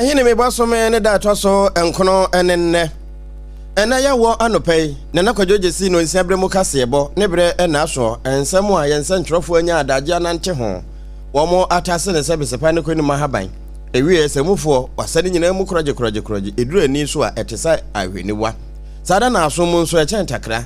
ɛhene me bɔ some ne da ɛtɔ so nkono ne nnɛ ɛna yɛwɔ anɔpa yi na na kwadwo gyesi no nsia berɛ mu kaseɛbɔ ne berɛ ɛna asoɔ nsɛm a yɛn nsɛntwerɛfoɔ anya adagye anante ho wɔn atase ne sɛ besepa ne kɔ anim ahaban ɛwieɛ sɛ mufoɔ wasɛ ne nyinaa mu korɔgye korɔgye korɔgye ɛduru ani so a ɛte sɛ ahweniwa saa da na aso mu nso ɛkyɛn takra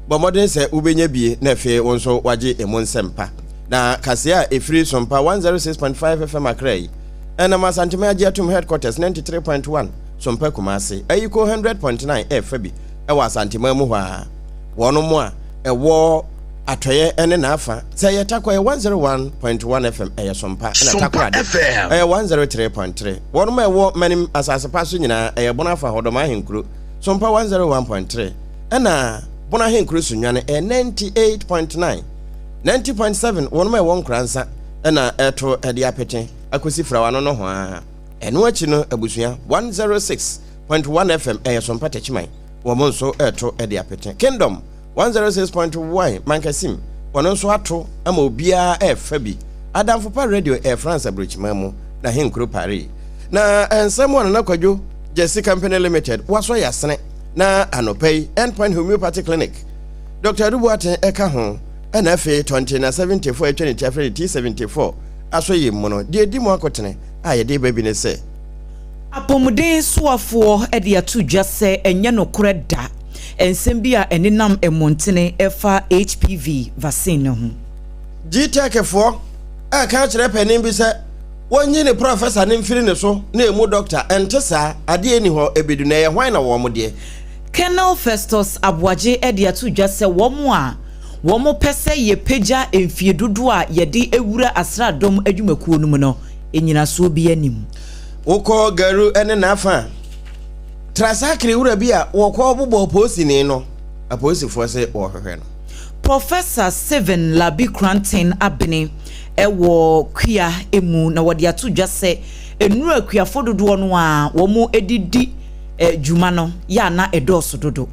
bɔ mmɔden sɛ wobɛnya bie na afei wo nso wagye emu nsɛmpa Na kaseɛ a ɛfiri Sompa 106.5 FM Accra yi ɛnam Asanteme agye atom Headquarters 93.1 Sompa Kumase ayi kɔ 100.9 ɛfa bi ɛwɔ Asanteman mu hɔ ara wɔn mo a ɛwɔ atɔeɛ ɛne n'afa sɛ ɛyɛ Takwa ɛyɛ 101.1 FM ɛyɛ Sompa ɛna Takorade ɛyɛ 103.3 wɔn mo a ɛwɔ Manim asase pa so nyinaa ɛyɛ Bono afa Hɔdɔm Ahenkuro Sompa 101.3 ɛna Bono Ahenkuro Sunyane ɛyɛ 98.9 90.7 wɔnom a ɛwɔ nkora nsa na ɛto de apete akosi frawa no nohoaa. Ɛno akyi no abusua 106.1 FM ɛyɛ sompa takyiman wɔn nso ɛto de apete. Kingdom 106.1 mankasim wɔn nso ato ama obiara ɛfa bi. Adamfopa radio ɛyɛ France aburokyiman mu na henkuro Paris. Na nsɛm a Nana Kwadwo Gyasi Company Limited wasɔ yasene na anɔpa yi Endpoint Homeopathy Clinic Dɔkta Adu Boateng ka ho. Ɛna afei Tɔnte na Seventy Four a atwa ne ti afrɛ no Tea Seventy Four aso yi mu no, deɛ ɛdi mu akotene a yɛde reba bi ne sɛ, Apɔmuden soafoɔ de ato dwa sɛ ɛnyɛ nokorɛ da nsɛm bi a ɛnenam mmɔntene ɛfa HPV vaccine no ho. Gtech foɔ reka akyerɛ panin bi sɛ wɔnyi ne prɔfɛsa no mfiri ne so na ɛmu dɔkta, ɛnte saa, adeɛ nni hɔ, ɛbɛdu na ɛyɛ hwan na wɔn deɛ? Colonel Festus Aboagye de ato dwa sɛ wɔn a wɔpɛ sɛ yɛpagya mfie dodoɔ a yɛde wura asraadɔm adwumakuo no mu no nnyinasoɔ biara nni mu. Wokɔ Garu ne n'afa a, tra sakre wura bi a wɔkɔ bobɔ polisini no, apolisifoɔ se wɔrehwehwɛ no. Professor Stephen Larbi Kranten Abene wɔ Kua mu na wɔde ato dwa sɛ nnuru akuafoɔ dodoɔ no ara wɔde di dwuma no yɛ a na ɛdɔɔso dodo.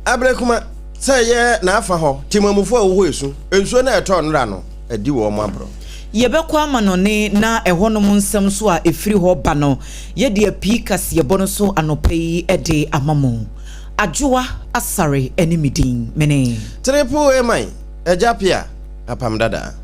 Abrɛ kuma sɛ ɛyɛ n'afa hɔ temamufo a wɔwɔ esu, nsuo na ɛtɔ nnora no adi wɔ wɔn aborɔ. Yɛbɛkɔ amanɔne na ɛhɔnom nsɛm nso a ɛfiri hɔ ba no yɛde apii kaseɛbɔ no so anɔpa yi de ama mo. Adwoa Asare ne me din. Mene. Triple A man. Agya pia apam dada.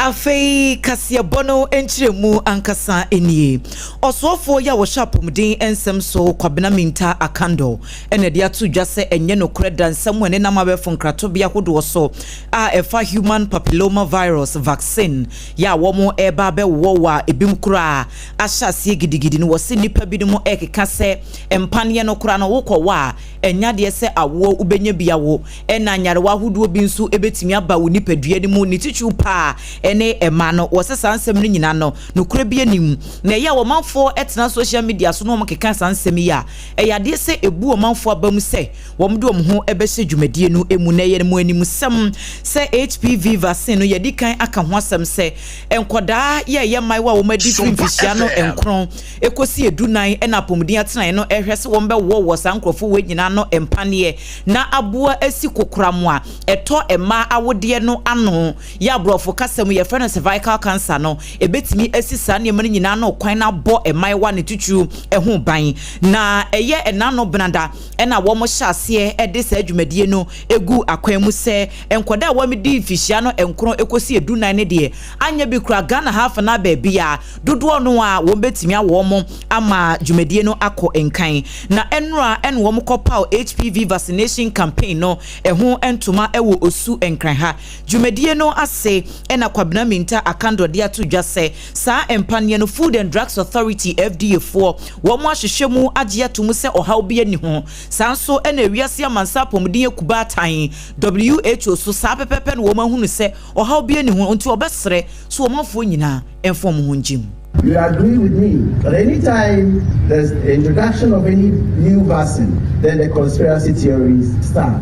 Afei kaseɛbɔ no nkyerɛmu ankasa nie. Ɔsoɔfoɔ yi a wɔhyɛ apɔmuden nsɛm so, Kwabena Mintah Akandor, na ɛde ato dwa sɛ ɛnyɛ nokorɛ da nsɛm a ɛnenam abɛɛfo nkratobea hodoɔ so a ɛfa human papilloma virus vaccine yɛ a wɔn reba abɛwowɔ wo a ebinom koraa ahyɛ aseɛ gidigidi no, wɔse nnipa binom rekeka sɛ mpaneɛ no koraa no wokɔwɔ a ɛnyɛ adeɛ sɛ awoɔ wobɛnya bi awo ɛna nyarewa ahodoɔ bi nso bɛtumi aba wo nipadua no mu ne titiriw paa ɛne ɛma no wɔse saa nsɛm no nyinaa no nokorɛ bi anim na ɛyɛ a wɔmanfoɔ tena social media so na wɔkeka saa nsɛm yi a ɛyɛ adeɛ sɛ ɛbu wɔmanfoɔ aba mu sɛ wɔde wɔn ho bɛhyɛ dwumadie no mu na ɛyɛ mo animsɛm sɛ HPV vaccine no yɛde kan aka ho asɛm sɛ nkwadaa yɛ ɛyɛ mmaayewa a wɔn adi firi mfirihyia no nkron ɛkɔsi edu nan ɛna apɔmuden atenaeɛ no ɛhwɛ sɛ wɔn bɛwɔ wɔ saa nkurɔfoɔ wɔ nyinaa no mpaneɛ na aboa asi kokoram a ɛtɔ mmaa awodeɛ no ano yɛ aborɔfo kasa mu yɛfrɛ no cervical cancer no ɛbɛtumi asi saa nneɛma no nyinaa no kwan na abɔ mmaayewa ne titiriw ɛho ban na ɛyɛ ɛnano benada na wɔhyɛ aseɛ de saa dwumadie no gu akwan mu sɛ nkwadaa a wɔadi mfihyia no nkron kɔsi edunan no deɛ anyɛ bi koraa Ghana ha afenaa baabiara dodoɔ no ara wɔbɛtumi awo wɔn ama dwumadie no akɔ nkan. Na nnora na wɔkɔpaw HPV vaccination campaign no ho ntoma wɔ Osu Nkran ha dwumadie no ase na Kwabena Mintah Akandor de ato dwa sɛ Saa mpaneɛ no Food and Drugs Authority, FDA, foɔ, wɔn ahwehwɛ mu agye ato mu sɛ ɔhaw biara nni ho. Saa nso na Wiase Amansan Apɔmuden Akubaa tan, who, so saa pɛpɛɛpɛ na wɔn ahunu sɛ ɔhaw biara nni ho nti wɔbɛsrɛ sɛ ɔmanfoɔ nyinaa mfa wɔn ho ngye mu. You agree with me but any time there's introduction of any new vaccine then the conspiracy theories start.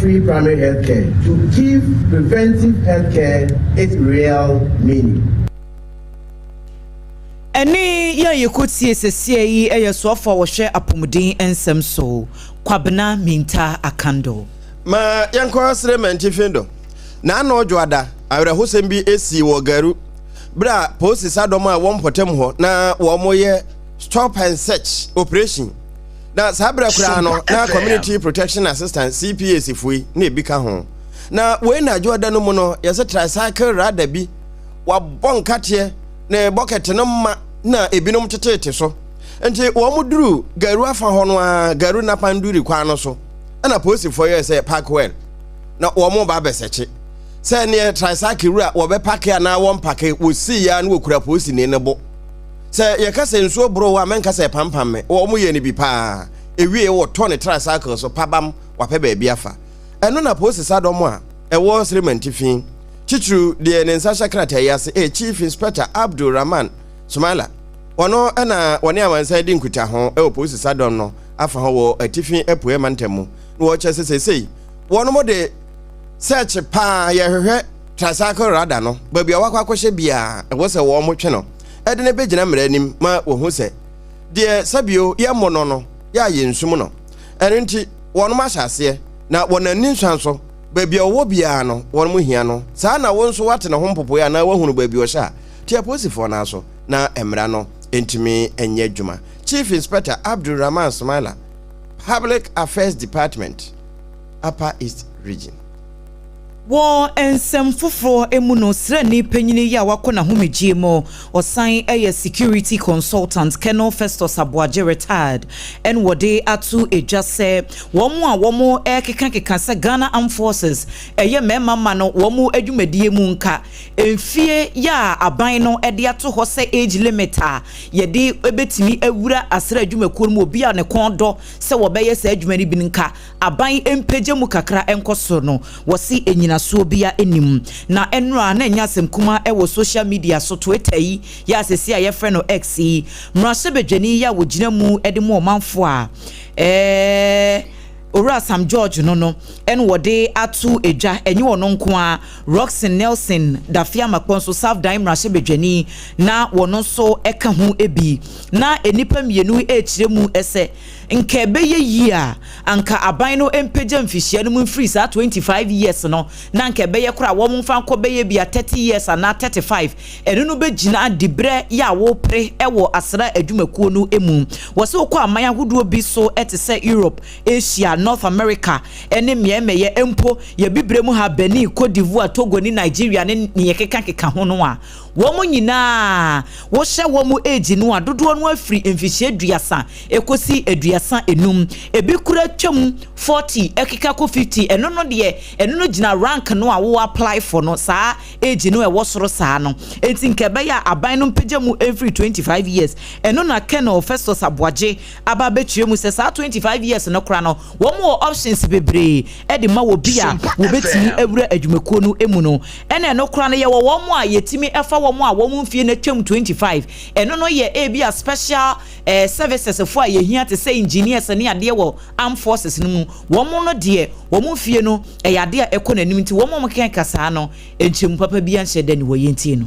free primary health care to give preventive health care its real meaning. Ɛnne yi a yɛkɔtie sɛsea yi yɛ soafo a wɔhwɛ apɔmuden nsɛm so, Kwabena Mintah Akandor. Ma yɛnkɔ sere Mantihwe do. N'ano dwoada, awerɛhosɛm bi sii wɔ Garu bere a poosisadɔm a wɔn mpɔtam hɔ na wɔreyɛ stop and search operation. na saa berɛ koraa no na community protection assistant cps foyi na ebi ka ho na wei na adwo ɔda no mu no yɛsɛ tricycle rada bi wabɔ nkateɛ na bɔkɛte no ma na ebinom tetete so nti wɔn mu duru garu afa hɔ no a garu napanduri kwan no so ɛna polisifoɔ yɛ sɛ park well na wɔn mo ba abɛsɛkye sɛ neɛ tricycle wura wɔbɛpake anaa wɔmpake wɔsii ya na wɔkura polisini no bo Sɛ yɛka sɛ nsuo boro wo a, mɛnka sɛ ɛpampam me. Wɔyɛ no bi paa. Ɛwie wɔtɔ ne tricycle so pabam wapɛ baabi afa. Ɛno na poosisa dɔm a ɛwɔ Sremantifi, titiriw deɛ ne nsa hyɛ krataa yi ase yɛ Chief Inspector Abdul Rahman Sumaila. Ɔno na wɔne amansan redi nkutaho wɔ poosisa dɔm no afa hɔ wɔ Atifi Apueɛ Mantam mu na wɔkyerɛ sɛ seesei wɔnom de search paa yɛhwehwɛ tricycle radar no. Baabi a wakɔ akɔhyɛ biara ɛwɔ sɛ wɔtwe no. ɛde no bɛgyina mmara anim ma wɔhu sɛ deɛ sɛbio yɛmmɔ no no yɛ a yɛnsum no. Ɛno nti wɔnom ahyɛ aseɛ na wɔn anni nsua nso. Baabi a ɔwɔ biara no wɔnom hia no. Saa na wo nso woate ne ho mpopoeɛ anaa woahunu baabi ɔhyɛ a, te apolisifoɔ no aso na mmara no ntumi nyɛ adwuma. Chief Inspector Abdul Rahman Sumaila, Public Affairs Department, Upper East Region. Wɔ nsɛm foforɔ mu no, sraani panyin yi a wakɔ n'ahomegyeɛ mu, ɔsan yɛ security consultant, Colonel Festus Aboagye, retired, na wɔde ato dwa sɛ wɔn a wɔkekakeka sɛ Ghana Armed Forces yɛ mmarima mma no wɔn adwumadie mu nka mfeɛ a aban no de ato hɔ sɛ age limit a yɛde bɛtumi awura asra adwumakuo no mu, obi a ne kɔn dɔ sɛ wɔbɛyɛ saa adwuma no bi no nka aban mpagya mu kakra nkɔ soro no, wɔse nnyinasoɔ biara nnim. Na ɛnnora a na ɛnyɛ asɛm kumaa ɛwɔ social media so, Twitter yi yɛ a seesei a yɛfrɛ no X yi, mmarahyɛbadwani yi a wɔgyina mu de mu ɔmanfoɔ a ɛɛ Owura Sam George no no ɛna wɔde ato dwa. Ɛnyɛ ɔno nko ara, Rockson Nelson Dafeamakpɔ nso, South Dan mmarahyɛbadwani, na wɔn nso ɛka ho bi. Na nnipa mmienu rekyerɛ mu sɛ, Nka ɛbɛyɛ yie a anka aban no mpagya mfihyia no mu mfiri saa twenty five years no na anka ɛbɛyɛ koraa wɔn mfa nkɔ bɛyɛ bia thirty years anaa thirty five ɛno no bɛgyina dibrɛ yɛ a wopere ɛwɔ asra adwumakuo no mu wɔ sɛ wokɔ aman ahodoɔ bi so ɛte sɛ Europe Asia North America ɛne mmeɛmɛyɛ mpo yɛ bibrɛ mu ha Benin Cote d'Ivoire Togo ne Nigeria ne neɛ keka keka ho no a Wɔn nyinaa wohyɛ wɔn age no a dodoɔ no afiri mfihyia aduasa ɛkɔsi aduasa enum. Ebi kura twam forty ɛkeka kɔ fifty. Ɛno no deɛ ɛno no gyina rank no a wo apply for no saa age no ɛwɔ soro saa no. Enti nka ɛbɛyɛ a aban no mpagya mu mfiri twenty five years. Ɛno na Colonel Festus Aboagye aba abɛkyerɛ mu sɛ saa 25 years no kora no wɔn wɔ options bebree de ma wɔ bi a wɔbɛtumi awura adwumakuo no mu no ɛna ɛno kora no yɛwɔ wɔn a yɛtumi fa wɔn a wɔn mfie no atwam 25 ɛno no yɛ ebi a special eh, services fo a yɛhia te sɛ engineers ne adeɛ wɔ armed forces no mu wɔn no deɛ wɔn mfie no ɛyɛ adeɛ a ɛkɔ n'anim nti wɔn a wɔkeka saa no nkyɛmu papa bi anhyɛ da ne wɔ yɛntie no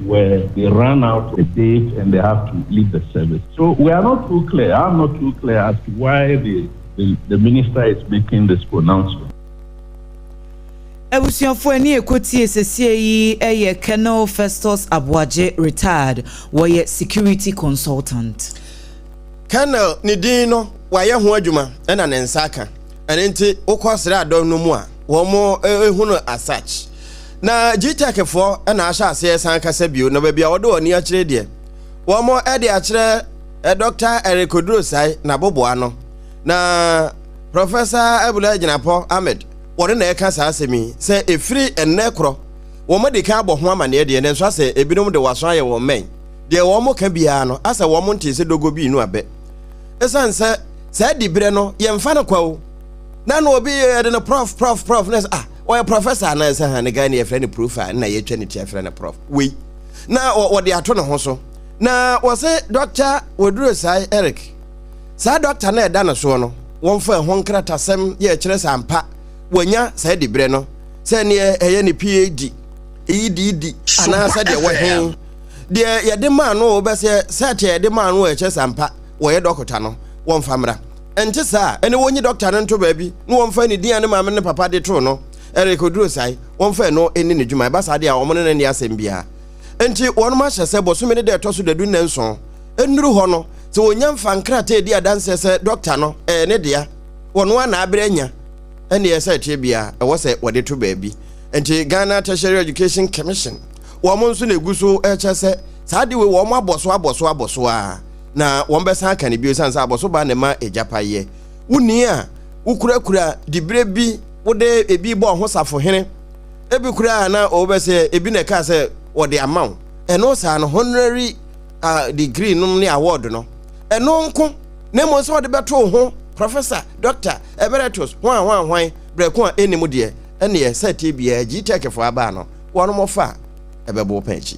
where they run out a date and they have to leave the service. So we are not too clear, I'm not too clear as to why the, the, the minister is making this pronouncement. Abusuafo ani ekotie sesie yi yɛ Colonel Festus Aboagye, retired, wɔyɛ security consultant. Colonel ne din no wayɛ ho adwuma ɛna ne nsa aka ɛne nti wokɔ sraadɔm no mu a wɔn ehu no as such. Na Gtech foɔ na ahyɛ aseɛ san kasa bio na baabi a wɔde wɔn ani akyerɛ deɛ, wɔn de akyerɛ eh, Dɔkta Eric Odurosai n'aboboa no, na Prɔfɛsa Abula Gyinapɔ Ahmed wɔne na ɛka saa asɛm yi sɛ ɛfiri ɛnnɛ korɔ wɔn adi kan abɔ ho amanneɛ deɛ, nanso asɛ ebinom de wɔaso ayɛ wɔn mmɛn, deɛ wɔn ka biara no asɛ wɔn ntee sɛ dogo bi nu abɛ. Ɛsiane sɛ saa diberɛ no yɛmfa no kwa o, na na obi yɛde no prɔf prɔf prɔf na ɛsɛ ah, ɔyɛ prɔfɛsa anaa sɛ ha ne Ghana yɛfrɛ no profa na yɛtwa ne ti afrɛ no prɔf wei na wɔde ato ne ho so na wɔse dɔkta wɔduro saa Eric saa dɔkta no ɛda no soɔ no wɔmfa ɛho nkratasɛm yɛ ɛkyerɛ sɛ ampa wɔanya saa diberɛ no sɛ neɛ ɛyɛ ne phd ɛyi di di anaa sɛ deɛ wɔhe deɛ yɛde maa no wɔbɛsɛ sɛ teɛ yɛde maa no ɛkyɛ sampa wɔyɛ dɔkota no wɔmfa mmra Ɛnte saa a, ɛnne wɔnyi dɔkta no nto baabi na wɔmfa ne din a ne maame ne ne papa de too no, Eric Odurosai, wɔmfa ɛno nni ne dwuma. Ɛba saa deɛ a, wɔne no nni asɛm biara. Enti wɔnom ahyɛ sɛ bosome no da a ɛtɔ so dadu nnanson nnuru hɔ no, sɛ wɔnya mfa nkrataa di adanseɛ sɛ dɔkta no, ɛyɛ ne dea, wɔno ara na aberɛ anya, ɛnneɛ sɛ ɛteɛ biara, ɛwɔ sɛ wɔde to baabi. Enti Ghana Tertiary Education Commission, wɔn nso na ɛgu so rekyɛ sɛ saa adeɛ wei wɔn abɔ so abɔ so abɔ so ara. na wɔbɛsan aka no bio ɛsiane sɛ abɔso ba na ɛma agyapaeɛ wonni a wokurakura diberɛ bi wode ebi bɔ ɔho safohene ebi koraa na ɔwobɛ sɛ ebi na ɛkaa sɛ wɔde ama wo ɛno saa no honorary uh, degree nom ne award no ɛno nko na mmom sɛ wɔde bɛto ho professor doctor emeritus ho a ho ahwan berɛko a ɛnni mu deɛ ɛneɛ sɛ tie biara gyi tɛkɛfoɔ abaa no wɔnom ɔfa a ɛbɛbo pɛn akyi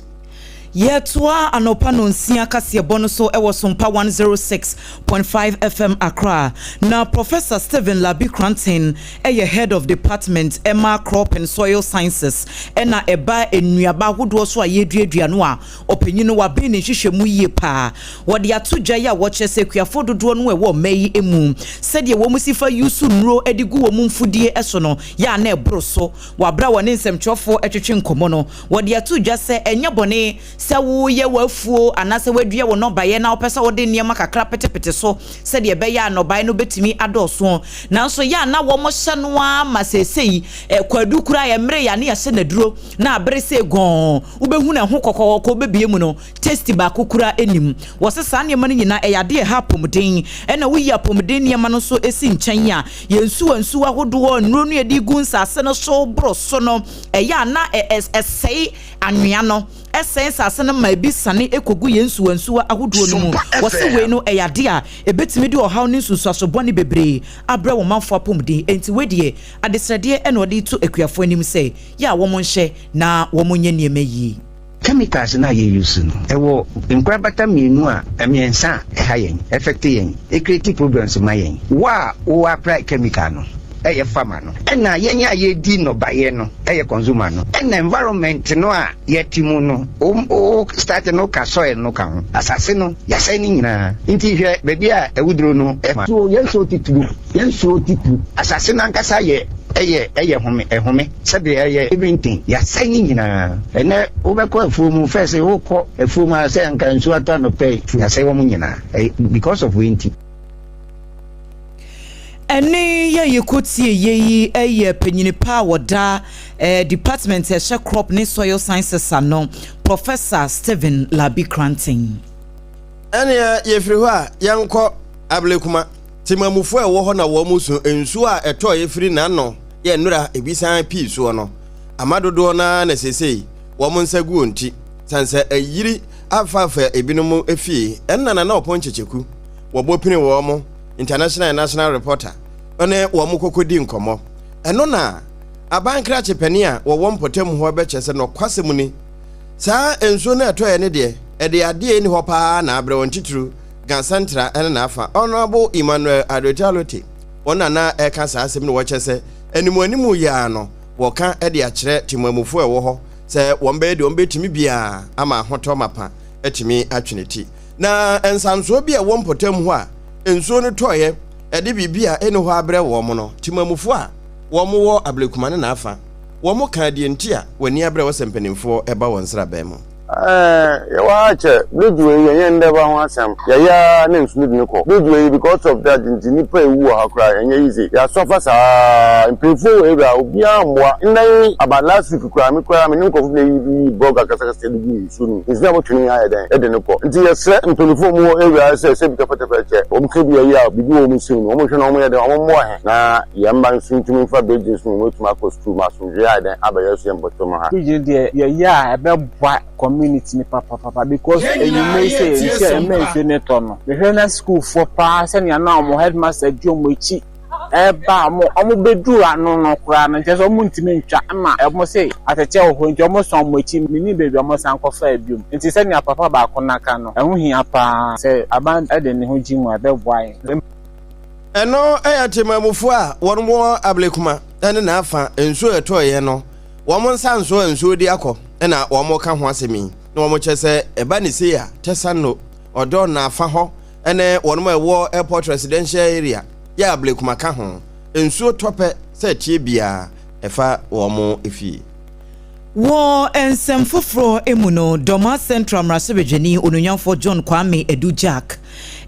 Yɛtoa anɔpa nnɔnsia kaseɛbɔ no so wɔ Sompa 106.5 FM Accra. Na Professor Stephen Larbi Kranten yɛ Head of Department ma Crop and Soil Sciences na ɛba nnuaba ahodoɔ so a yɛreduadua no a ɔpanyin no waben ne nhwehwɛmu yie paa. Wɔde ato dwa yi a wɔkyerɛ sɛ akuafoɔ dodoɔ no a ɛwɔ ɔma yi mu sɛdeɛ wɔn si fa use nnuro de gu wɔn mfudie so no yɛ a na ɛboro so wɔ aberɛ a wɔne nsɛmtwerɛfoɔ twetwe nkɔmmɔ no. Wɔde ato dwa sɛ ɛnyɛ bɔne sɛ woreyɛ w'afuo anaasɛ woadua wo nnɔbaeɛ na wopɛ sɛ wode nneɛma kakra petepete so sɛdeɛ ɛbɛyɛ a nnɔbaeɛ no bɛtumi adɔɔso. Nanso yɛ a na wɔhyɛ no ara ma seesei kwadu koraa a ɛmmeree a na yɛahyɛ no aduro na abere sei gɔnn wobɛhunu ɛho kɔkɔɔ kɔ wobɛbue mu no taste baako koraa nnim. Wɔse saa nneɛma no nyinaa ɛyɛ adeɛ a ɛha apɔmuden ɛna woyi apɔmuden nneɛma no nso si nkyɛn a yɛn nsuwa nsuwa ahodoɔ nnuro no yɛde gu nsaase no so boro so no ɛyɛ a na ɛsɛe anwea no, ɛsɛe nsase no ma ebi sane kogu yɛn nsuwansuwa ahodoɔ no mu. Wɔse wei no ɛyɛ adeɛ a ɛbɛtumi de ɔhaw ne nsunsuaso bɔne bebree abrɛ wɔn manfoɔ apɔmuden. Enti wei deɛ adesrɛdeɛ na ɔde reto akuafoɔ anim sɛ yɛ a wɔnhyɛ na wɔnyɛ nneɛma yie. Chemicals no a yɛ use no ɛwɔ nkorabata mmienu a mmiɛnsa a ɛha yɛn, affect yɛn, ɛcreate problems ma yɛn. Wo a wo apply chemical no ɛyɛ farmer no, ɛna yɛn a yɛdi nnɔbaeɛ no ɛyɛ consumer no, ɛna environment no a yɛte mu no, wo wo start no ka soil no ka ho, asase no yɛasɛe no nyinaa, nti hwɛ baabi a awuduro no ɛfa. So yɛn nsuo titiriw Yɛn soro te pu. Asase no ankasa yɛ ɛyɛ ɛyɛ home ɛhome sɛdeɛ ɛyɛ Eventing yɛasɛe ne nyinaa. Ɛnnɛ wobɛkɔ afuo mu fɛ se wokɔ afuo mu a sɛ anka nsuo atɔ anɔpa yi yɛasɛe wɔn nyinaa ɛy because of wei nti. Ɛne yɛ yɛkɔ tie yɛ yi ɛyɛ panyini pa a wɔda ɛɛ department a ɛhyɛ crop ne soil sciences ano Professor Stephen Larbi Cranton. Ɛneɛ yɛfiri hɔ a yɛnkɔ Ablekuma. Temamufo a ɛwɔ hɔ na wɔn so nsu a ɛtɔe firi n'ano yɛ nnora ebi san pii soɔ no ama dodoɔ no ara na seesei wɔn nsa gu wɔn ti sane sɛ ayiri afaafa ebinom afie ɛnna Nana Ɔpon Kyekyeku wɔbɔ pini wɔ wɔn International National Reporter ne wɔn kɔkɔ di nkɔmmɔ ɛno na aban krakye panin a wɔwɔ mpɔtam hɔ bɛkyɛ sɛ nɔkwasɛm ni saa nsuo no ɛtɔeɛ no deɛ ɛde adeɛ ɛni hɔ paa na abrɛ wɔn titiriw Ga Central ne n'afa, Honourable Emmanuel Adotwa Lote, wɔn na na ɛreka saa asɛm no wɔ kyɛ sɛ animuanimu yɛ ara no wɔka de akyerɛ temmuamufoɔ a ɛwɔ hɔ sɛ wɔn bɛyɛ deɛ wɔbɛtumi biara ama ahotɔ mapa atumi atwe ne ti. Na nsansoɔ bi a ɛwɔ mpɔtam hɔ a nsuo no tɔeɛ ɛde biribi a ɛni hɔ abrɛ wɔn no, temmuamufoɔ a wɔn wɔ Ablekuma ne n'afa wɔn kaa deɛ nti a wɔn ani abrɛ wɔ sɛ mpanimfoɔ ɛba wɔn sraban mu. Yɛwɔ ha kyɛ Bedwee yi ɛnyɛ ndɛ ba ho asɛm yɛyɛ ara na nsu no de no kɔ Bedwee yi because of that nti nipa ewu wɔ ha koraa ɛnyɛ easy yɛ asɔfa saa mpanyinfoɔ wɔ area ha obiara mmoa ndɛ yi about last week koraa me koraa me ne nkorɔfo bi na yɛ yi bɔga kasakasa de guu nsuo no mu nsuo no abɔ twene yi ayɛ dɛn ɛde no kɔ nti yɛ srɛ mpanyinfoɔ a ɔmo wɔ area ha sɛ sɛ bi tɛfɛtɛfɛ kyɛ ɔmo ka bi a yɛ a biribi wɔ ɔmo nsam no ɔmo nhwɛ na ɔmo yɛ dɛn ɔmo mmoa yɛn na yɛn mma nso ntumi nfa bɛgye nso na ɔmo atumi akɔ sukuu ma Dua ayɛ dɛn aba yɛn suam bɔtɔ mu ha? Pigeon deɛ yɛyɛ a ɛbɛboa community no papapapa because enyimɛ yi sɛ yɛn nhyɛ ɛma nsuo no tɔ no mehwɛ na sukuufoɔ paa sɛnea na wɔn headmaster di wɔn akyi ɛreba a wɔn wɔn bɛduru ano no koraa no nkyɛ sɛ wɔn ntumi ntwa ɛma wɔn se atɛkyɛ wɔ hɔ nti wɔn sɔn wɔn akyi menim baabi a wɔn san kɔfaa biom nti sɛnea papa baako no aka no ɛho hia paa sɛ aban de ne ho gye mu a ɛbɛboa yɛn. Ɛno yɛ temanmufoɔ a wɔn wɔ ablekuma ne n'afa nsuo ɛtɔeɛ no wɔn nsa nso nsuo di akɔ na wɔn ka ho asɛm yi na wɔn kyɛ sɛ ɛba ne sei a Tɛsano ɔdɔ n'afa hɔ ne wɔn a ɛwɔ airport residential area yɛ ablekuma ka ho nsuo tɔpɛ sɛ tie biara ɛfa wɔn efie Wɔ nsɛm foforɔ mu no, Dormaa Central mmarahyɛbadwani Onuonyamfoɔ John Kwame Adu Gyark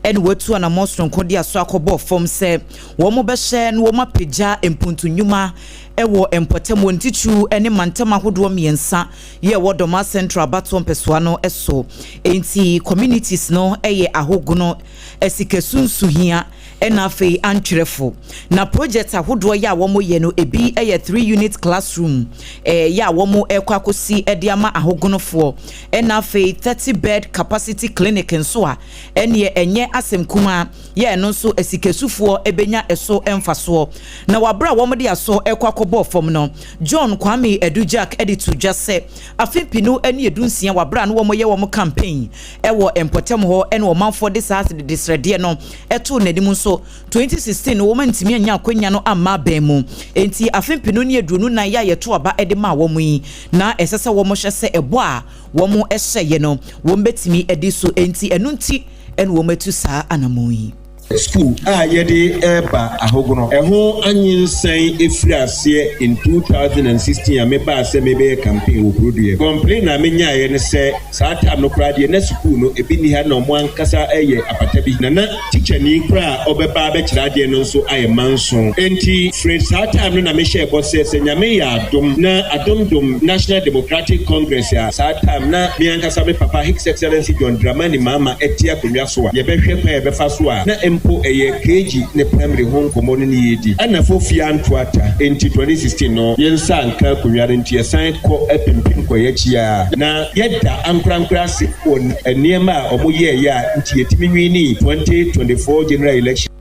na watu anammɔn soronko de aso akɔbɔ fam sɛ wɔbɛhwɛ na wɔapagya mpontu nnwuma wɔ mpɔtam wɔ Ntikyu ne mantam ahodoɔ mmiɛnsa yɛ ɛwɔ Dormaa Central abatoɔ mpɛsoa no so. Enti communities no yɛ ahogono, sika sunsuhia, Ɛna afei antwerɛfo na project ahodoɔ yɛ a wɔn yɛ no ebi yɛ three unit classroom ɛɛ yɛ a wɔn ɛkɔ akɔsi ɛde ama ahogonofoɔ ɛna afei thirty bed capacity clinic nso a ɛneɛ ɛnyɛ asɛm kumaa yɛ ɛno nso asikasufoɔ ɛbɛnya ɛso mfasoɔ na wɔ aberɛ a wɔn de asɔ ɛkɔ akɔbɔɔ fam no John Kwame Adu Jack ɛde too dwa sɛ afe mpenu ɛne ɛdu nsia wɔ aberɛ a na wɔn yɛ wɔn campaign ɛwɔ mpɔtam hɔ ɛna ɔmanfoɔ de saa desrɛdeɛ no too n'anim nso, 2016 no wɔantumi annya akwannya no amma abɛn mu. Enti afe mpenu ne aduonu nnan yi a yɛtoo aba de maa wɔn yi, na ɛsɛ sɛ wɔhwɛ sɛ ɛbɔ a wɔhyɛeɛ no, wɔbɛtumi adi so. Enti ɛno nti na wɔatu saa anammɔn yi. Sukuu a yɛde reba ahogono. Ɛho anyinsɛn firi aseɛ in 2016 a mebaa sɛ mebɛyɛ campaign wɔ Burodoeɛ. Complain a menyaeɛ ne sɛ. Saa term no koraa deɛ na sukuu no ebi nni ha na wɔn ankasa reyɛ apata bi na na tikyani koraa a ɔbɛba abɛkyerɛ adeɛ no nso ayɛ manso. Enti firi saa term no na mehyɛɛ bɔ sɛ sɛ Nyame yɛ adom na adom dom National Democratic Congress a saa term na me ankasa me papa Hix Excellency John Dramani Mahama te akonnwa so a yɛbɛhwɛ kwan a yɛbɛfa so a na mpo ɛyɛ KG ne Primary ho nkɔmmɔ no ne yɛredi. Anafo fie anto ata enti 2016 no yɛn nsa anka akonnwa no nti yɛsan kɔ apempem kɔ yɛn akyi ara, na yɛda ankorankoro ase wɔ nneɛma a wɔyɛeɛ a nti yɛtumi winii 2024 General Election.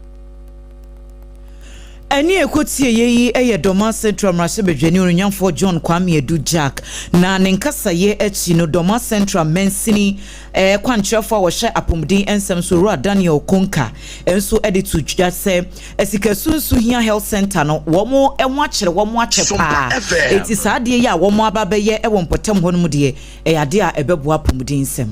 Ɛnne a ɛkɔ tieɛ yi yɛ Dormaa Central Mmarahyɛbadwani Onuonyamfoɔ John Kwame Adu Gyark, na ne nkasaeɛ akyi no Dormaa Central Mansini Kwankyerɛfo a wɔhyɛ apomuden nsɛm so, Owura Daniel Konka nso de to dwa sɛ asikasu nso hia Health Centre no. Wɔn ho akyere wɔn akyɛ paa. Enti saa adeɛ yi a wɔn aba abɛyɛ wɔ mpɔtam hɔ no mu deɛ, ɛyɛ adeɛ a ɛbɛboa apomuden nsɛm.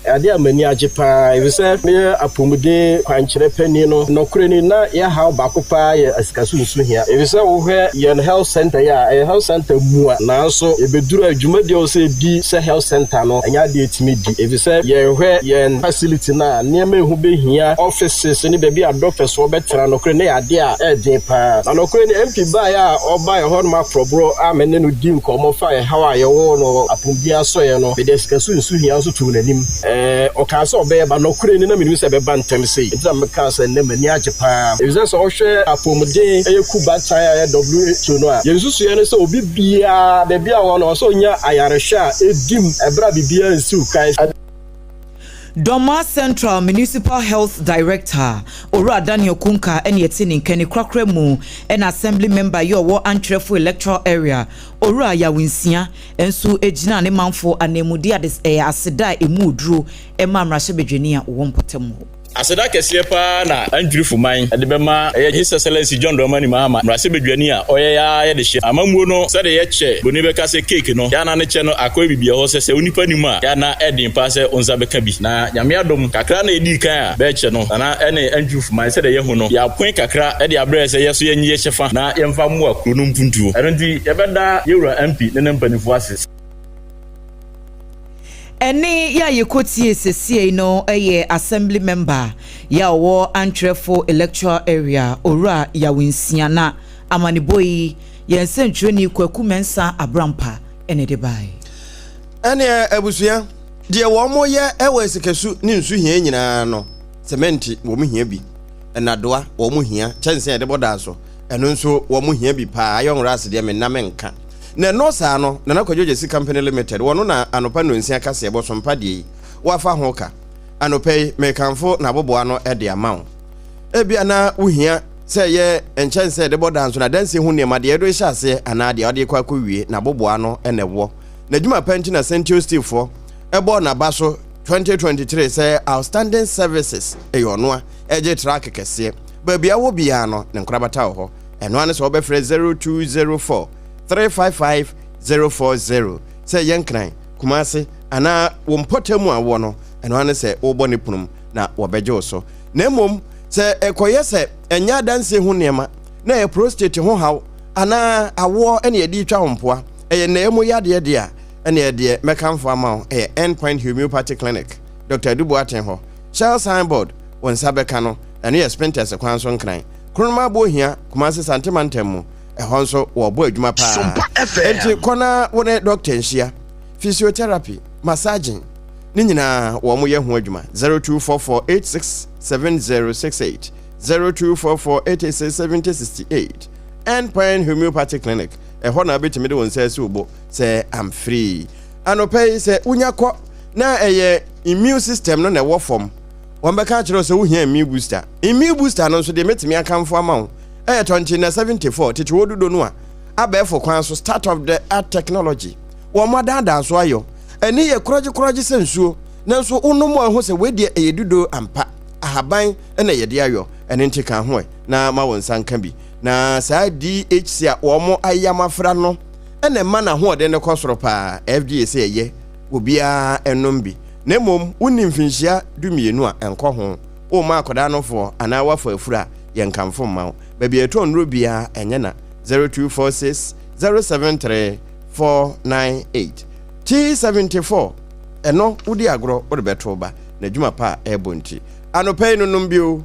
Ɛyɛ adeɛ a m'ani agye paa efisɛ meyɛ apomuden kwankyerɛ panin no. Nɔkorɛ ni, na yɛn haw baako paa yɛ asikasu nso hia. Efisɛ wohwɛ yɛn Health Centre yi a, ɛyɛ Health Centre mua nanso ɛbɛduru a dwumadie a ɛwɔ sɛ ɛdi sɛ Health Centre no, ɛnyɛ ade a etumi di, efisɛ yɛhwɛ yɛn facility no a, nneɛma a ɛho behia, offices ne baabi a doctors wɔ bɛtra, nokore no yɛ ade a ɛɛden paa. Na nokore no, MP baeɛ a ɔbaeɛ hɔ no m'aporɔboro a me ne no dii nkɔmmɔ faa ɛhaw a yɛwɔ wɔ no apomuden asɔeɛ no, mede asikaso nsu hia nso too n'anim. Ɛɛ, ɔkaa sɛ ɔbɛba. Nokore no, na mennim sɛ ɛbɛba ntɛm sei, enti na mekaa sɛ nnɛ m'ani agye paa, efisɛ sɛ wohwɛ apomuden ɛyɛ Kub Atan a ɛyɛ WHO no a, yɛn nsusuiɛ ne sɛ obi, biara, baabi a ɔwɔ no, ɔsɛ onya ayarehwɛ a edi mu bere a biribiara nsiw kan. Dormaa Central Municipal Health Director, Owura Daniel Kunkah ne ɛte ne nka ni korakora mu na Assembly Member yi a ɔwɔ Antwerɛfo Electoral Area, Owura Yaw Nsia nso gyinaa ne manfo ananmu de aseda a emu wɔ duro maa Mmarahyɛbadwani a ɔwɔ mpɔtam hɔ. Aseda kɛseɛ paa na Antwerfo man de bɛma Yɛ His Excellency John Dramani Mahama, Mmarahyɛbadwani a ɔyɛ a yɛde hyɛ amammuo no sɛdeɛ yɛkyɛ broni bɛka sɛ cake no, yɛ a na ne kyɛ no akɔyɛ biribi ɛhɔ sɛ sɛ onipa nnim a, yɛ a na ɛden paa sɛ onsa bɛka bi. Na Nyame adom, kakra na yɛdii kan a bɛrekyɛ no, Nana ne Antwerfo man sɛdeɛ yɛahu no, yɛapoe kakra de abrɛ sɛ yɛ nso yɛnye yɛ kyɛfa na yɛmfa mmoa kuro no mpuntuo. Ɛno nti yɛbɛda Yɛwura MP ne ne mpaninfoɔ ase sɛ. Ɛnne yi a yɛkɔtiee sesiei no yɛ Assembly Member yi a ɔwɔ Antwerɛfo Electoral Area, Owura Yaw Nsia na amanebɔ yi yɛn sɛntwerɛni Kwaku Mensah Abrampa na ɛde baeɛ. Ɛnneɛ abusua, deɛ wɔyɛ wɔ asikasu ne nsu hia nyinaa no, semɛnte wɔn hia bi, nnadoa wɔn hia, kyɛnsee a yɛde bɔ dan so, ɛno nso wɔn hia bi paa, iron racks deɛ menna menka. Na ɛnɔɔ saa no, Nana Kwadwo Gyasi Company Limited, wɔno na anɔpa nnɔnsia kaseɛbɔ sompa deɛ yi, woafa ho ka. Anɔpa yi, merekamfo n'aboboa no de ama wo. Ebia na wohia sɛ ɛyɛ nkyɛnsee a yɛde bɔ danso, n'adansie ho nneɛma, deɛ yɛde rehyɛ aseɛ anaa deɛ wode rekɔ akɔwie, n'aboboa no na ɛwɔ. N'adwuma pa nti na Sentio Steel foɔ bɔɔ n'aba so 2023 sɛ Outstanding Services, ɛyɛ ɔnoa, ɛgye truck kɛseɛ. Baabi a wowɔ biara no, ne nkorabata wɔ hɔ. Ɛno ara ne sɛ wobɛfrɛ 0204 355 040 sɛ yɛ Nkran, Kumase anaa wo mpɔtam a wowɔ no, ɛno ara ne sɛ wobɔ no pono mu na wɔbɛgye wo so. Na mmom sɛ ɛkɔyɛ sɛ ɛnyɛ adansie ho nneɛma na ɛyɛ prostate ho haw anaa awoɔ na yɛde retwa wo mpoa, ɛyɛ nnɛɛ mu yadeɛ deɛ a, ɛnneɛ deɛ mɛkamfo ama wo yɛ Endpoint Homeopathy Clinic, Doctor Adu Boateng hɔ. Shell Signboard, wo nsa bɛka no, ɛno yɛ Spintex kwan so Nkran. Kronoma bo hia Kumasi Sante mantam mu, ɛhɔ nso wɔbɔ adwuma paa. Enti kɔ na wo ne dɔkta nhyia. Physiotherapy, massaging, ne nyinaa wɔyɛ ho adwuma. 0244867068, 0244887068, End Point Homeopathy Clinic, ɛhɔ na wobɛtumi de wo nsa asi wo bo sɛ I'm free. Anɔpa yi sɛ wonya kɔ na ɛyɛ immune system no na ɛwɔ fam. Wɔbɛka akyerɛ wo sɛ wohia immune booster. Immune booster no nso deɛ mɛtumi akamfo ama wo ɛyɛ tɔnkye na 74 tete wɔ dodo no a abɛɛfo kwan so start of the art technology wɔn adaadaa so ayɔ ani yɛ korɔgye korɔgye sɛ nsuo nanso wo nom a ho sɛ wei deɛ ɛyɛ dodo ampa ahaban na yɛde ayɔ ɛne nti ka ho ɛ na ma wo nsa nka bi na saa DHC a wɔn ayam afra no ɛna ɛma na ho ɔden no kɔ soro paa FDA sɛ ɛyɛ obiara nnom bi, na mmom wonni mfinhyia dumienu a ɛnkɔ ho. Womma akwadaa no foɔ anaa woafɔ afuro a, yɛnkamfo mma wo. Baabi a yɛtɔn nnuro biara ɛnyɛ na, 0246 073 498. T74, Ɛno wodi agorɔ wode bɛto wo ba n'adwuma pa a ɛrebɔ nti. Anɔpa yi no nom bi o,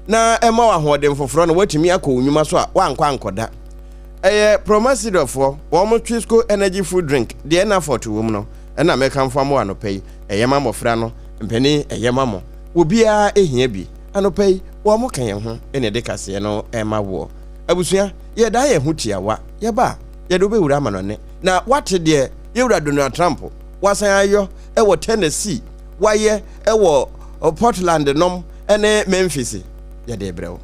na ɛma wo ahoɔden foforɔ na woatumi akɔ wo nnwuma so a woankɔ ankɔda. Ɛyɛ Promasidor foɔ wɔn Twisco energy food drink deɛ na fɔɔto wɔ mu no na mekamfo ama wo anɔpa yi, ɛyɛ ma mmɔfra no, mpanin ɛyɛ ma mo, obiara ɛhia bi, anɔpa yi wɔn ka yɛn ho na ɛde kaseɛ no ma woɔ. Abusua yɛdaa yɛn ho tiawa yɛba a yɛde wo bɛwura amanɔne na woate deɛ Yɛwura Donald Trump wasan ayɔ wɔ Tennessee, wayɛ wɔ Portland nom ne Memphis. yɛde rebrɛ wo.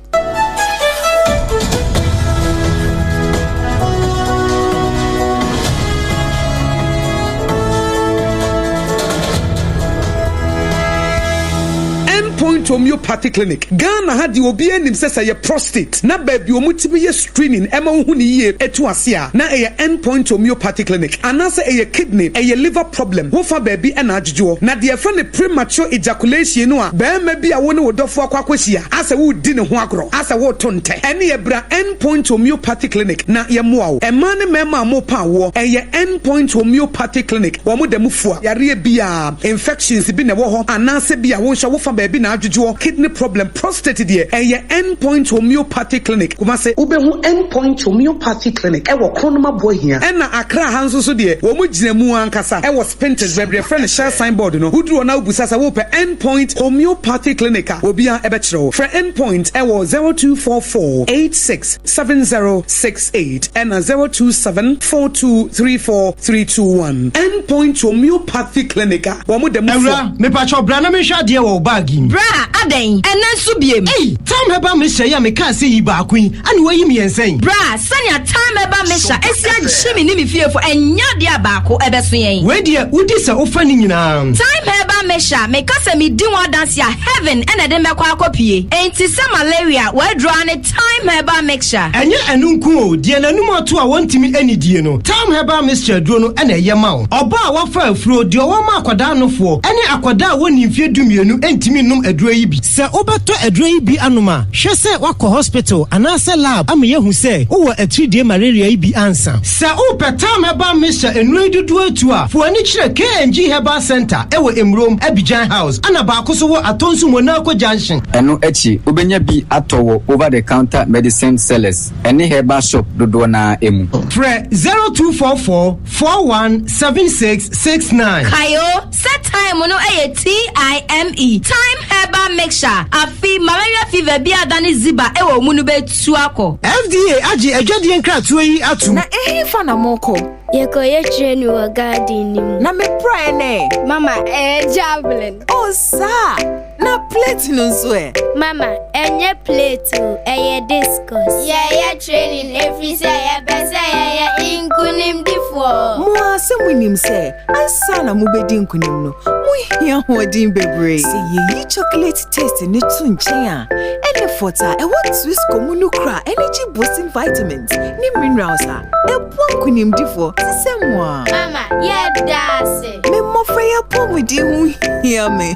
Endpoint Homeopathy Clinic, Ghana ha deɛ obiara nim sɛ sɛ ɛyɛ prostate na baabi a wɔtumi yɛ screening ɛma wohu no yie ɛtu ase a na ɛyɛ end point homeopathy clinic anaasɛ ɛyɛ kidney ɛyɛ liver problem ho fa baabi ɛna adwodwoɔ na deɛ yɛfrɛ no premature ejaculation no a barima bi a wo ne wo dɔfoɔ akɔ akɔhyia asɛ woredi ne ho agorɔ asɛ woreto ntɛ ɛneɛ bra end point homeopathy clinic na yɛmmoa wo mmaa ne mmarima a morepa awoɔ ɛyɛ end point homeopathy clinic wɔn da mu fua yareɛ biara infections bi na ɛwɔ hɔ anaasɛ bi a wo nso wo fa baabi na adwodwoɔ kidney problem. Prostate deɛ, ɛyɛ End Point Homeopathy Clinic, Kumasi. Wobɛhu End Point Homeopathy Clinic wɔ Kronoma Boahia. Ɛna Accra ha nso so deɛ, wɔn gyina mu ankasa wɔ Spintex, baabi yɛfrɛ no Shell Sign Board no. Woduru hɔ na wobisa sɛ wopɛ End Point Homeopathy Clinic a, obiara bɛkyerɛ wo. Frɛ End Point wɔ zero two four four eight six seven zero six. eight ɛna zero two seven four two three four three two one End point homeopathy clinic a wɔn da mu fua. Awura, mepakyɛw bra na menhwɛ adeɛ wɔ wo bag yi mu. Bra, adɛn? Ɛnnɛ nso biem? Ei! Time Herbal Mixture yi a mekaa sɛ yi baako yi, ɛne woayi mmiɛnsa yi. Bra, sɛnea Time Herbal Mixture asi agye me ne me fiefo, ɛnyɛ adeɛ a baako ɛbɛso yɛn. Wei deɛ, wodi sɛ wofa ne nyinaa. Time Herbal Mixture, meka sɛ medi ho adanse a, heaven ɛna ɛde me bɛkɔ akɔpue. Enti sɛ malaria, w'aduro ara ne. Thyme Herbal Mixture. Ɛnyɛ ɛno nko o, deɛ n'anum ato a wɔntumi nnidie no, Thyme Herbal Mixture aduro no na ɛyɛ ma wo. Ɔbaa a wafa afuro, deɛ ɔwɔ ma akwadaa nofoɔ, ne akwadaa a wɔnnii mfeɛ dumienu ntumi nnom aduro yi bi. Sɛ wobɛtɔ aduro yi bi anom a, hwɛ sɛ woakɔ hospital anaasɛ lab ama yɛahu sɛ wowɔ atiridie malaria yi bi ansa. Sɛ wo pɛ tam ɛba me hyɛ nnuro yi dodoɔ atu a fo ani kyerɛ KNG Herbal Center ɛwɔ Emurom, Abidjan House, ɛna baako so wɔ Atonsu Monaco Junction. Ɛno akyi wobɛnya bi atɔ wɔ over the counter medicine sellers ɛne herbal shop dodoɔ no ara mu. Frɛ zero two four four four one seven six six nine. Kae o sɛ thyme no ɛyɛ T-I-M-E, thyme herbal mixture, afi malaria fever bi a adane ziba ɛwɔ mu no bɛ. Suakɔ. FDA agye adwadie nkratoɔ yi atum. Na ehefa na mokɔ? Yɛkɔ yɛkyerɛ ni wɔ garden ni mu. Na me pra ɛ nɛ? Mama, ɛyɛ javelin. Oh saa! Na plate no nso ɛ? Mama, ɛnyɛ plate o, ɛyɛ discus. Yɛyɛ training ɛfiri sɛ yɛpɛ sɛ yɛyɛ nkunimdifoɔ. Mo ara sɛ monim sɛ ansa na mobɛdi nkunim no, mohia hoɔden bebree. Sɛ yɛyi chocolate. Taste no to nkyɛn a, Enefort a ɛwɔ Twisco mu no kura energy boosting vitamins ne minerals a ɛboa nkonimdifoɔ te sɛ mo a. Mama, yɛda ase. Me mmofra yi apɔmuden ho hia me.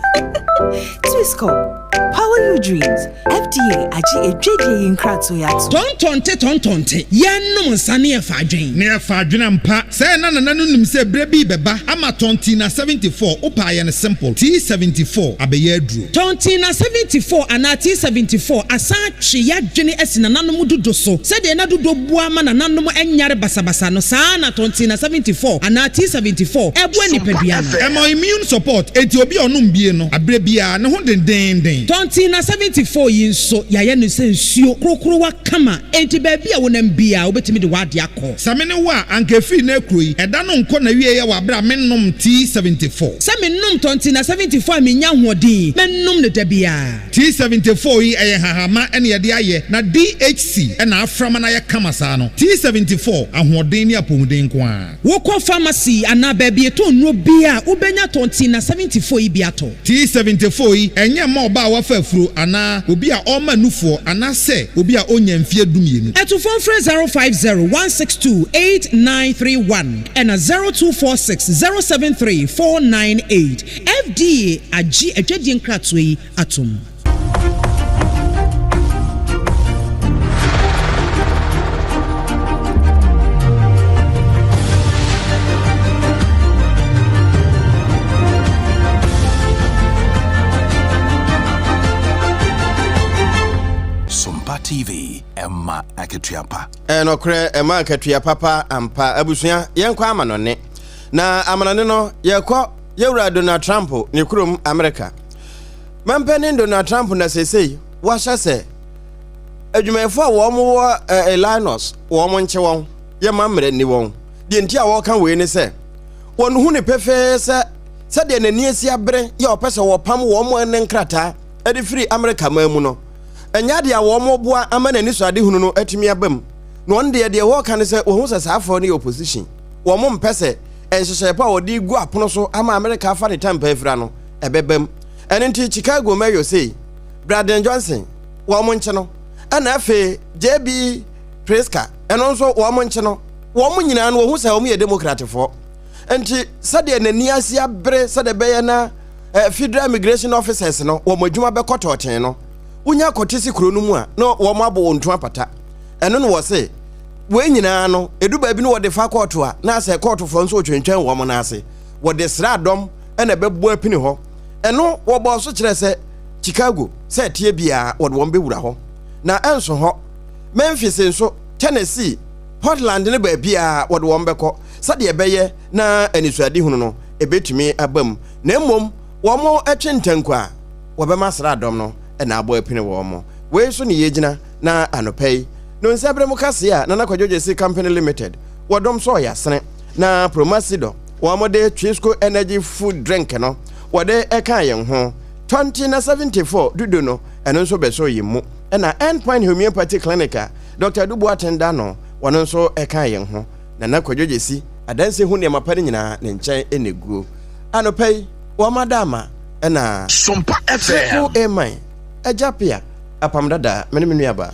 Twisco, power your dreams. FDA agye adwadie yi nkratoe atom. Tɔntɔnte tɔntɔnte, Yɛnnom nsa ne yɛfa adwen. Ne yɛfa adwen ampa. Sɛɛ na Nana no nim sɛ berɛ bi rebɛba ama Tɔntina 74, wo paayɛ no simple, tii 74, abɛyɛ aduro. Tɔntina 74 anaa tii 74 asan atwe y'adwene asi nananom dodo so. Sɛdeɛ na dodo boa ma nananom nyare basabasa no, saa ara na Tɔntina 74 anaa tii 74 boa nipadua no. Ɛma immune support, enti obi a ɔnom bie no, aberɛ biara ne ho dendeenden. Tɔntina 74 yi nso, yɛayɛ no sɛ nsuo, krokrowa kama, enti baabi a wonam biara wobɛtumi de w'adeɛ akɔ. Sɛ me ne wo a, anka efii nnɛ kuro yi. Ɛda no nkɔ n'awieɛ wɔ aberɛ a mennom tea seventy four. Sɛ mennom tɔ nti na seventy four a mennya ahoɔden yi, mɛnom no da biara. Tea seventy four yi, ɛyɛ nhahamma na yɛde ayɛ, na DHC na afra ma no ayɛ kama saa no. Tea seventy four, ahoɔden ne apɔmuden nko ara. Wokɔ pharmacy anaa baabi yɛtɔn nnuro biara a, wobɛnya tɔ nti na seventy four yi bi atɔ. T74 yi, ɛnyɛ mma ɔbaa a wafa afuro anaa obi a ɔrema nufoɔ anaasɛ obi a ɔnnya mfeɛ dumienu. To fon frɛ 0501628931 ɛna 0246073498. FDA agye adwadie nkratoɔ yi atom. TV ɛma akatua pa. ɛnɔkorɛ ɛma akatua papa ampa abusua yɛnkɔ amanɔne na amanɔne no yɛkɔ yɛwura donald trump ne kurom america Mampanin Donald Trump na seesei wahyɛ sɛ adwumayɛfo a wɔn wɔ Illinois wɔn nkye wɔn yɛ ma mmerɛ nni wɔn. Deɛ nti a wɔka wei ne sɛ wɔn hu ne pefee sɛ sɛdeɛ n'ani asi abere yɛ ɔpɛ sɛ wɔpam wɔn ne nkrataa de firi Amerika man mu no ɛnyɛ adeɛ a wɔn boa ama n'ani so adehunu no atumi aba mu. Na wɔn deɛ deɛ wɔka ne sɛ wɔhu sɛ saa afɔ no yɛ opposition. Wɔn mpɛ sɛ nhyehyɛeɛ pa a wɔde gu apono so ama Amerika afa ne tampa afira no ɛbɛba mu. Ɛno nti Chicago Mayor sei, Braden Johnson, wɔn nkye no, ɛna afei JB Pritzker, ɛno nso wɔn nkye no, wɔn nyinaa no wɔhu sɛ wɔn yɛ Democratfoɔ. Nti sɛdeɛ n'ani ase abere sɛdeɛ bɛyɛ na eh, Federal Immigration Officers no wɔn adwuma bɛkɔ tɔɔten no, wonya kɔte si kuro no mu a na wɔn abɔ wɔn ntu apata. Ɛno na wɔse wei nyinaa no ɛdu baabi no wɔde fa kɔɔto a na sɛ kɔɔtofoɔ nso wɔtwentwɛn wɔn no ase wɔde sra dɔm na ɛbɛbɔ apini hɔ. Ɛno wɔbɔɔ so kyerɛɛ sɛ Chicago sɛ ɛteɛ biara wɔde wɔn bɛwura hɔ, na ɛnso hɔ. Memphis nso, Tennessee, Portland ne baabiara wɔde wɔn bɛkɔ sɛdeɛ ɛbɛyɛ na anisoadehunu no ɛbɛtumi aba mu, na mmom wɔtwe ntanku a wɔbɛma sraadɔm no na abɔ apini wɔn. Wei so ne yɛgyina na anɔpa yi no nsɛberɛ mu kaseɛ a Nana Kwadwo Gyasi Company Limited wɔdom sɔɔ yɛ asene na Promasidor Wɔde Twisco Energy Food Drink no wɔde ɛkaa yɛn ho. Tɔnte na 74 Dudu no ɛno nso bɛsɔɔ yɛn mu. Ɛna End Point Homeopathy Clinic a Dɔkta Adu Boateng da ano wɔno nso ɛkaa yɛn ho. Nana Kwadwo Gyesi adanse ho nneɛma pa no nyinaa ne nkyɛn na ɛguo. Anɔpa yi wɔma ada ama ɛna. Sompa FM. Twisco Aman, Agya Pia, Apam Dada, me ne me nuabaa.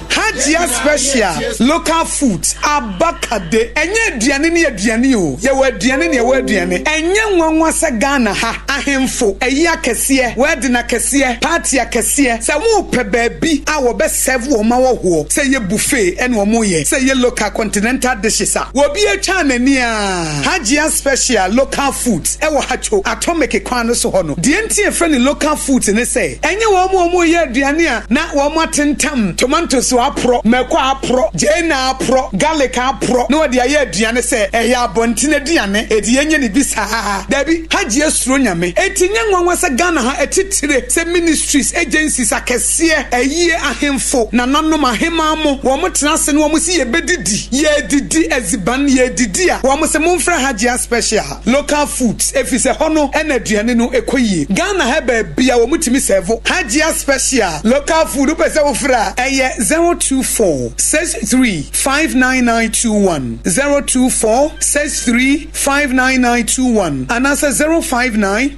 Hajia special local foods abakade ɛnyɛ aduane ne aduane o yɛwɔ aduane ne ɛwɔ aduane ɛnyɛ nwanwa sɛ Ghana ha ahenfo ayi akɛseɛ wedding akɛseɛ party akɛseɛ sɛ wɔpɛ baabi a wɔbɛ serve wɔn ma wɔhoɔ sɛ ɛyɛ buffet ɛna wɔn yɛ sɛ ɛyɛ local continental dishes a obi atwa n'ani aa Hajia special local foods wɔ Hacho atomeke kwan no so hɔ no. Deɛ nti a yɛfrɛ no local foods ne sɛ, ɛnyɛ wɔn a wɔreyɛ aduane a na wɔatentam tomatoes aporɔ, mako aporɔ, gyeene aporɔ, garlic aporɔ na wɔde ayɛ aduane sɛ ɛyɛ abɔnten aduane, enti yɛnyɛ no bi saa. Daabi, Hajji suro Nyame. Enti ɛnyɛ nwanwa sɛ Ghana ha atitire sɛ ministries, agencies akɛseɛ, ayie ahemfo, nananom, aheman mo, wɔtena ase na wɔse yɛbɛdidi, yɛredidi adziban, yɛredidi a, wɔse momfrɛ Hajji a special. Local foods efisɛ hɔ no na aduane no kɔ yie. Ghana ha baabi a wɔtumi sɛɛvo Hajia special local food wopɛ sɛ wo frɛ a ɛyɛ zero two four six three five nine nine two one zero two four six three five nine nine two one anaasɛ zero five nine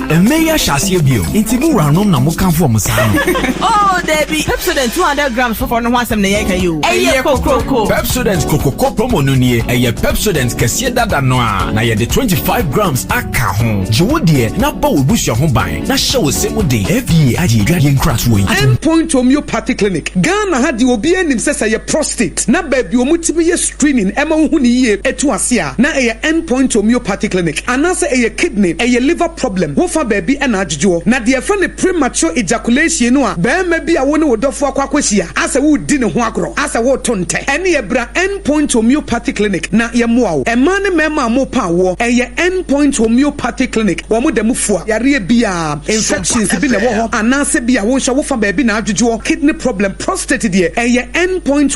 Mmɛ yi ahyɛ aseɛ bio nti mo wuranom na mo kanfo ɔmo saa no. Oh dabi, Pepsodent 200 grams foforɔ no ho asɛm na yɛreka yi o. Ɛyɛ kokroko. Pepsodent Kokoko Promo no nie, ɛyɛ Pepsodent kɛseɛ dada no a na yɛde 25 grams aka ho. Gye wo deɛ na bɔ w'abusua ho ban na hyɛ wo se mu den. FDA agye adwadeɛ nkratoɔ yi atom. Endpoint Homeopathy Clinic, Ghana ha deɛ obiara nim sɛ sɛ ɛyɛ prostate na baabi wɔtumi yɛ. screening ɛma wohu no yie ɛtu ase a na ɛyɛ end point homeopathy clinic anaasɛ ɛyɛ kidney ɛyɛ liver problem wo fa baabi ɛna adwodwoɔ na deɛ yɛfrɛ no premature ejaculation no a barima bi a wo ne wo dɔfoɔ akɔ akɔhyia asɛ woredi ne ho agorɔ asɛ woreto ntɛ ɛneɛ bra end point homeopathy clinic na yɛmmoa wo mmaa ne mmarima a morepa awoɔ ɛyɛ end point homeopathy clinic wɔn da mu fua yareɛ biara infections bi na ɛwɔ hɔ anaasɛ bi a wo nso wo fa baabi na adwodwoɔ kidney problem prostate deɛ ɛyɛ end point